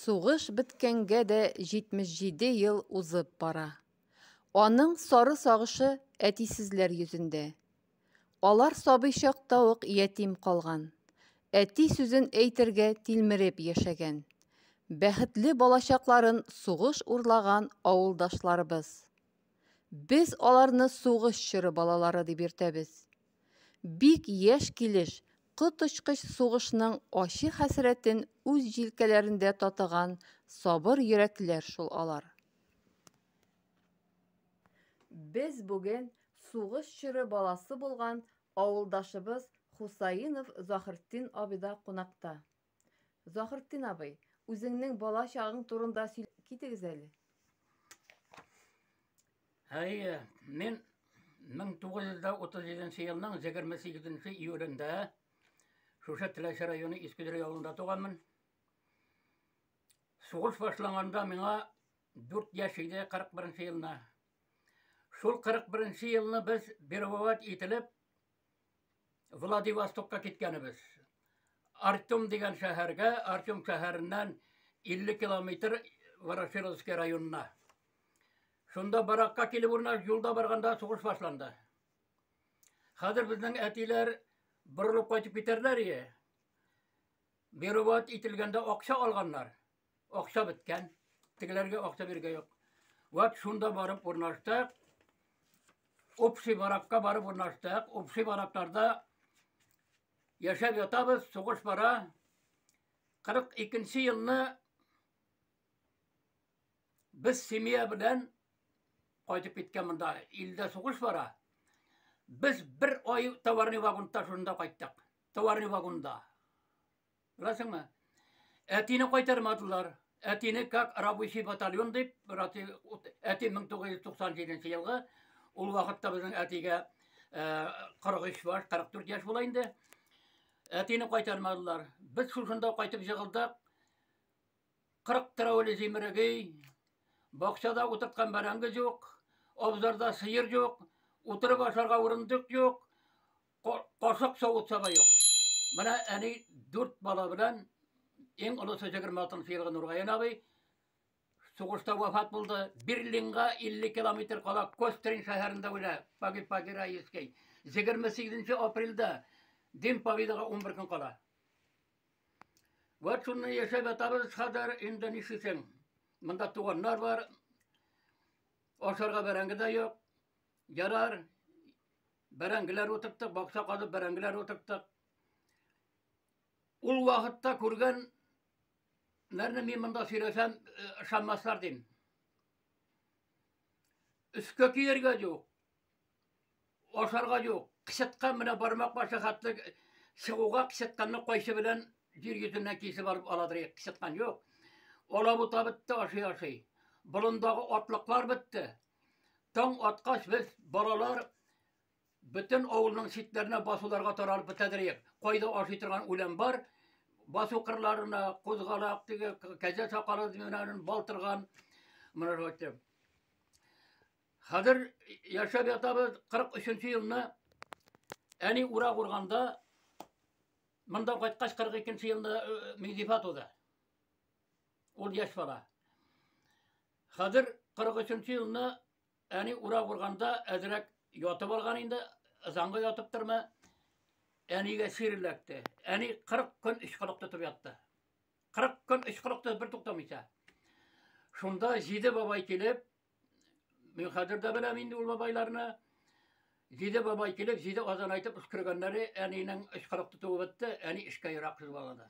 Сугыш беткәнгә дә 77 ел узып бара. Аның сары сагышы әтисезләр йөзендә. Алар сабый чакта ук ятим калган. Әти сүзен әйтергә тилмереп яшәгән. Бәхетле балачакларын сугыш урлаган авылдашларыбыз. Без аларны сугыш чоры балалары дип йөртәбез. Бик яшь килеш коточкыч сугышның ачы хәсрәтен үз җилкәләрендә татыган сабыр йөрәкләр шул алар. Без бүген сугыш чоры баласы булган авылдашыбыз Хусаинов Захртдин абида кунакта. Заһртдин абый, үзеңнең бала чагың турында сөйләп китегез әле. Әйе, мин 1937 елның 28 июлендә шушы Теләче районы Искедер авылында туганмын. Сугыш башланганда миңа 4 яшь иде 41 елны. Шул 41 елны без бервават ителеп Владивостокка киткәнебез. Артем дигән шәһәргә, Артем шәһәреннән 50 километр Ворошиловский районына. Шунда баракка килеп урна юлда барганда сугыш башланды. Хәзер безнең әтиләр борылып кайтып китәрләр ие. Беруват ителгәндә акча алганнар. Акча беткән. Тегеләргә акча бирергә юк. Вот шунда барып урнаштык. Общий баракка барып урнаштык. Общий баракларда яшәп ятабыз, сугыш бара. 42 елны без семья белән кайтып киткән монда. Илдә сугыш бара. Без бер ай товарный вагонда шунда кайттык. Товарный вагонда. Беләсеңме? Әтине кайтармадылар. Әтине как рабочий батальон дип, әти 1997 елгы ул вакытта безнең әтигә 43 бар, 44 яшь була инде. Әтине кайтармадылар. Без шушында кайтып җыгылдык. 40 тәүле зимрегей, бакчада утырткан бәрәңге юк, абзарда сыер юк, утырып ашарга урындык юк. Корсак савытса да юк. Менә әни дүрт бала белән иң олысы 26 елгы Нургаян абый сугышта вафат булды. Берлинга 50 километр кала Кострин шәһәрендә үлә. Паги Паги Раевский. 28 апрельдә Дин Победага 11 көн кала. Вот шуны яшәп атабыз хәзер инде нишисең. Монда туганнар бар. Ашарга бәрәңге дә юк. Ярар, Бәрәңгеләр утырттык, бакча казып бәрәңгеләр утырттык. Ул вакытта күргән нәрне мин монда сөйләсәм, ышанмаслар э, дим. Өскә киергә юк. Ашарга юк. Кычыткан менә бармак башы хәтле чыгуга кычытканны кайсы белән җир йөзеннән кисеп алып аладыр. Кычыткан юк. Алабута бетте, ашый-ашый. Болындагы атлыклар бетте. Таң аткач без балалар бөтен авылның читләренә басуларга таралып бетәдерек. Кайда ашый торган үлән бар, басу кырларына кузгалак теге кәҗә сакалы менән балтырган менә шулай. Хәзер яшәп ятабыз 43 елны. Әни урак урганда монда кайткач 42 елны Мизифа туды. Ул яшь бала. Хәзер 43 елны әни урак урганда әзрәк ятып алган инде, ызанга ятып торма. Әнигә сир эләкте. Әни 40 көн ычкылык тотып ятты. 40 көн ычкылык тотып бер туктамыйча. Шунда җиде бабай килеп, мин хәзер дә беләм инде ул бабайларны. Җиде бабай килеп, җиде азан әйтеп үскергәннәре әнинең ычкылык тотуы бетте, әни эшкә ерак кыз балада.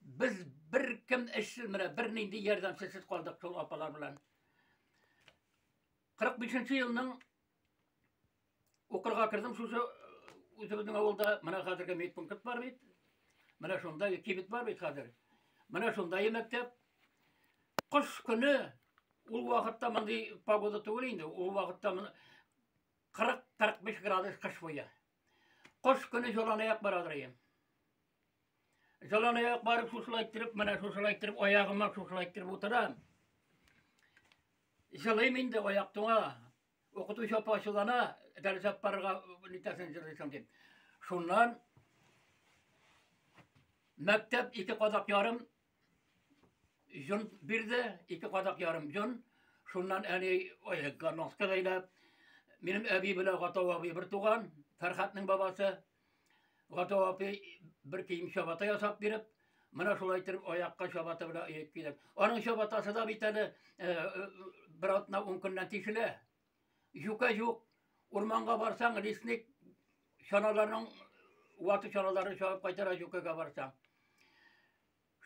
Без бер кем эшсез менә, бер нинди ярдәмсез калдык шул апалар белән. 45 елның укырга кердем, шушы үзебезнең авылда менә хәзерге медпункт бар бит. Менә шунда кибет бар бит хәзер. Менә шунда мәктәп. Кыш көне ул вакытта мондый погода түгел инде. Ул вакытта 40-45 градус кыш буе. Кыш көне җыланаяк барадыр ем. Жалан аяк барып шушылай иттереп, менә шушылай иттереп, аягыма шушылай иттереп утырам. Җылыйм инде аяк туңа. Укытучы апа ачулана, дәрес алып барырга нитәсен җылыйсың дип. Шуннан мәктәп ике кадак ярым җон бирде, ике кадак ярым җон. Шуннан әни аякка носка бәйләп, минем әби белән Гатау абый бер туган, Фәрхәтнең бабасы. Гата апи бер кием чабата ясап биреп, менә шулай итеп аякка чабата белән иеп килеп. Аның чабатасы да бит әле бер атна ун көннән тишелә. Юка юк, урманга барсаң, лесник чаналарның ваты чаналарын чабып кайтара юкага барсаң.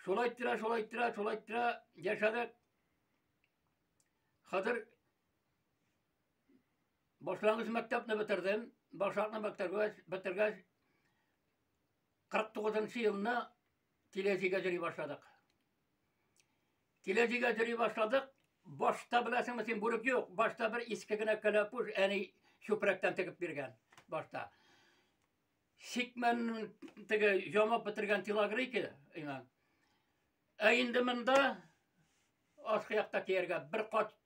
Шулай тирә, шулай тирә, шулай тирә яшәдек. Хәзер Башлангыч мәктәпне бетердем. Башлангыч мәктәпне бетергәч, 49 елны Тиләҗигә йөри башладык. Тиләҗигә йөри башладык. Башта беләсеңме син бүрек юк. Башта бер иске генә кәләпүш әни чүпрәктән тегеп биргән. Башта. Сикмен теге ямап бетергән телогрейки, иман. Ә инде монда ашкы якта кияргә бер кат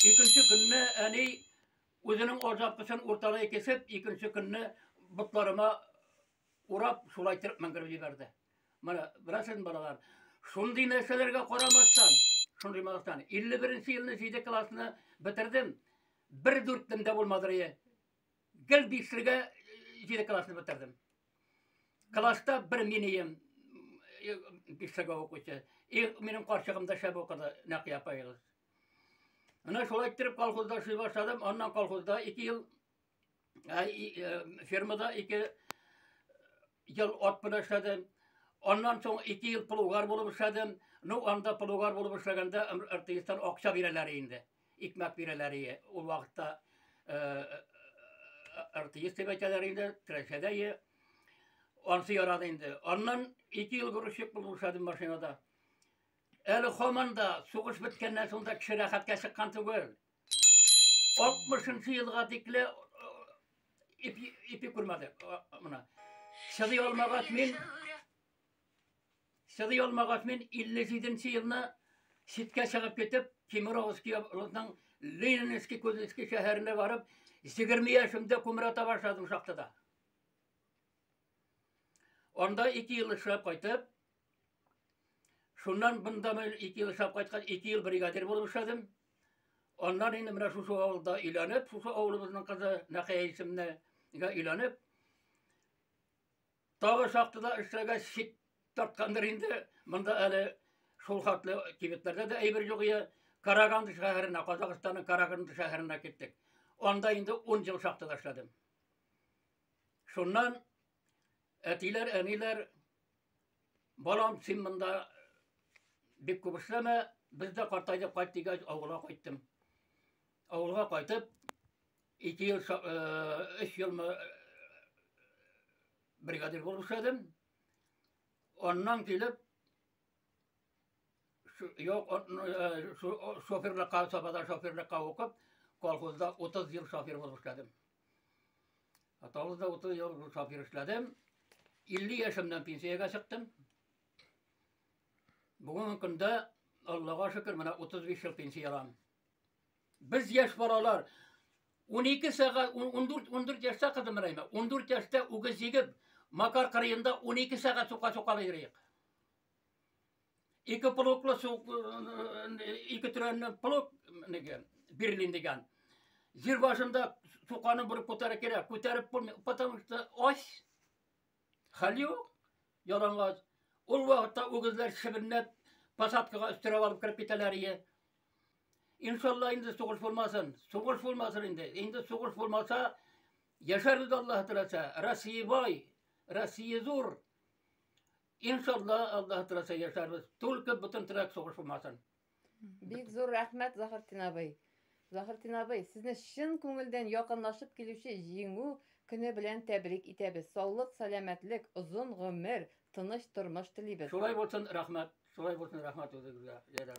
Икенче көнне әни үзенең азапкысын урталай кесеп, икенче көнне ботларыма урап, шулай төрк мәңгереп җибәрде. Менә, беләсез балалар, шундый нәрсәләргә карамастан, шундый балалардан 51 елны 7 классны бетердем. Бер дүртем дә булмады рие. Гел бишлегә җиде классны бетердем. Класста бер минем бишлегә укучы. И минем карчыгым да шәп укыды, Нәкыя апаегыз. Менә шулай иттереп колхозда эшли башладым. Аннан колхозда 2 ел фермада 2 ел ат белән эшләдем. Аннан соң 2 ел плугар булып эшләдем. Ну, анда плугар булып эшләгәндә РТИСтан акча бирәләр инде. Икмәк бирәләр ие. Ул вакытта РТИС дип әйтәләр инде, Трәшәдә ие. Ансы ярады инде. Аннан ике ел грузчик булып эшләдем машинада. Әле хаман да сугыш беткәннән соң да кеше рәхәткә чыккан түгел. 60 елга тикле ипи күрмәдек. Мына. Чыдый алмагач мин Сыдый алмагач, мин 57 нче елны читкә чыгып китеп, Кемеровский областның Ленинский Кузнецкий шәһәренә барып, 20 яшемдә кумра таба башладым шахтада. Анда 2 ел эшләп кайтып, шуннан бында мен 2 ел эшләп кайткан, 2 ел бригадир булып эшләдем. Аннан инде менә шушы авылда өйләнеп, шушы авылыбызның кызы Нәхәй исемнәгә өйләнеп, Тагы шахтада эшләгәч шик тарткандыр инде. Монда әле шул хәтле кибетләрдә дә әйбер юк иде. Караганды шәһәренә, Казахстанның Караганды шәһәренә киттек. Анда инде 10 ел шахтада эшләдем. Шуннан әтиләр, әниләр, балам, син монда бик күп эшләмә, без дә картайдык, кайт дигәч, авылга кайттым. Авылга кайтып, Ике ел, өч елмы бригадир булып эшләдем. Аннан килеп, юк, шоферлыкка, сабада шоферлыкка укып, колхозда 30 ел шофер булып эшләдем. Аталызда 30 ел шофер эшләдем. 50 яшемнән пенсиягә чыктым. Бүгенге көндә, Аллага шөкер, менә 35 ел пенсиялам. Без яшь балалар 12 сәгать 14 14 яшьтә кызым Рәймә, 14 яшьтә үгез җигеп, Макар кырыенда 12 сәгать сука сука йөрик. Ике полоклы сук ике төрәнне полок диген, Берлин диген. Җир башында суканы бер күтәрә кирәк, күтәреп булмый, потому что ось Хәл юк. Ялангач. Ул вакытта үгезләр чебенләп посадкага өстерәп алып кереп китәләр ие. Иншалла инде сугыш булмасын. Сугыш булмасын инде. Инде сугыш булмаса, яшәрбез Аллаһ теләсә. Россия бай, Россия зур. Иншалла Аллаһ теләсә яшәрбез. Только бөтен теләк сугыш булмасын. Бик зур рәхмәт, Заһыртин абый. Заһыртин абый, сезне чын күңелдән якынлашып килүче Җиңү көне белән тәбрик итәбез. Саулык, сәламәтлек, озын гомер, тыныч тормыш телибез. Шулай булсын, рәхмәт. Шулай булсын, рәхмәт үзегезгә, Ләйлә.